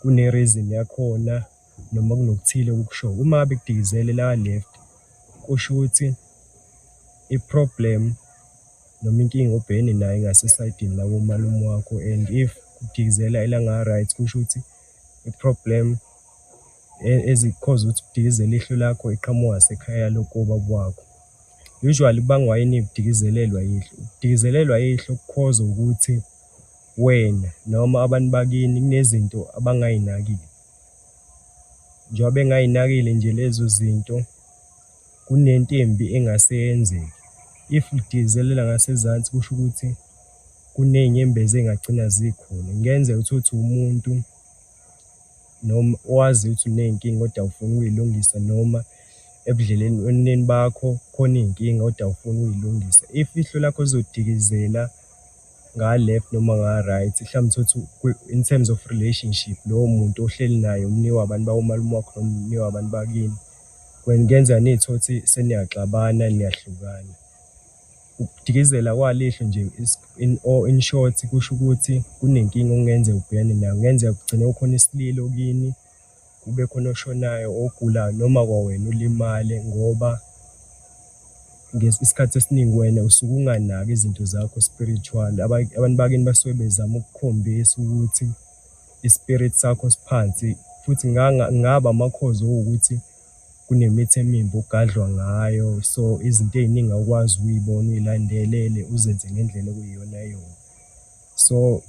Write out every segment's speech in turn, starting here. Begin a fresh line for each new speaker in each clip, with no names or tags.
Kune reason yakhona noma kunokuthile okukushoyo. Uma bekudikizele la left kusho ukuthi i problem noma inkinga obhekene nayo ingase sayidini la komalume wakho and if kudikizela elanga right kusho ukuthi i problem ezikhoza ukuthi kudikizela ihlo lakho iqhamuka sekhaya lokuba kwakho. Usually kubangwa yini ukudikizelelwa ihlo? Ukudikizelelwa ihlo kukhoza ukuthi Wena noma abantu bakini kunezinto abangayinakile. Njengoba bengayinakile nje lezo zinto, kunento embi engase yenzeke. If lidikizelela ngasezansi kusho ukuthi kuney'nyembezi ey'ngagcina zikhona. Kungenzeka uthole ukuthi umuntu noma owaziyo ukuthi uney'nkinga kodwa awufuni ukuy'lungisa noma ebudlelweneni bakho khona iy'nkinga kodwa awufuni ukuy'lungisa. If ihlo lakho lizodikizela. nga left noma nga right mhlawumbe thothi in terms of relationship lowo muntu ohleli naye umni wabantu bawomalume wakho noma umni wabantu bakini kwengenza nithothi seniyaxabana niyahlukana ukudikizela kwalihlo nje in or in short kusho ukuthi kunenkinga okungenzeka ubhekane nayo kungenzeka kugcine kukhona isililo kini kube khona oshonayo ogulayo noma kwawena ulimale ngoba isikhathi esiningi wena usuke unganaki izinto zakho spiritual. Abantu bakini basuke bezama ukukhombisa ukuthi ispirit sakho siphansi futhi ngaba amakhozi okuwukuthi kunemithi emimbi ogadlwa ngayo so izinto ey'ningi awukwazi ukuy'bona uy'landelele uzenze ngendlela okuyiyona yona. so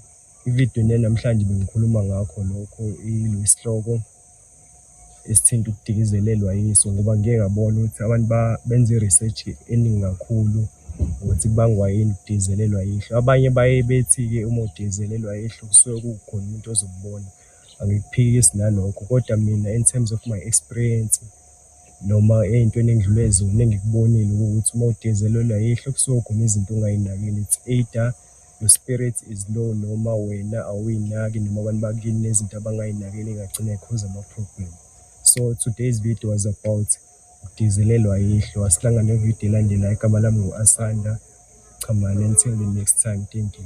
ividiyo ne namhlanje bengikhuluma ngakho lokho ilo isihloko esithinta ukudikizelelwa yiso ngoba ngike ngabona ukuthi abantu benza i-research eningi kakhulu ukuthi kubangwa yini ukudizelelwa yihlo abanye baye bethi-ke uma udizelelwa yihlo kusuke kukhona umuntu ozokubona angikuphikisi nalokho kodwa mina in terms of my experience noma ey'ntweni engidlule zona engikubonile ukuthi uma udizelelwa yihlo kusuke khona izinto ongayinakile it's either Your spirit is low noma wena awuyinaki noma abantu bakini nezinto abangayinakeli ingagcina ikhoza ama-problem. So today's video was about ukudizelelwa yihlo. Asihlangane nevideo elandelayo. Igama lami ngu-Asanda Chamane. Until the next time. Thank you.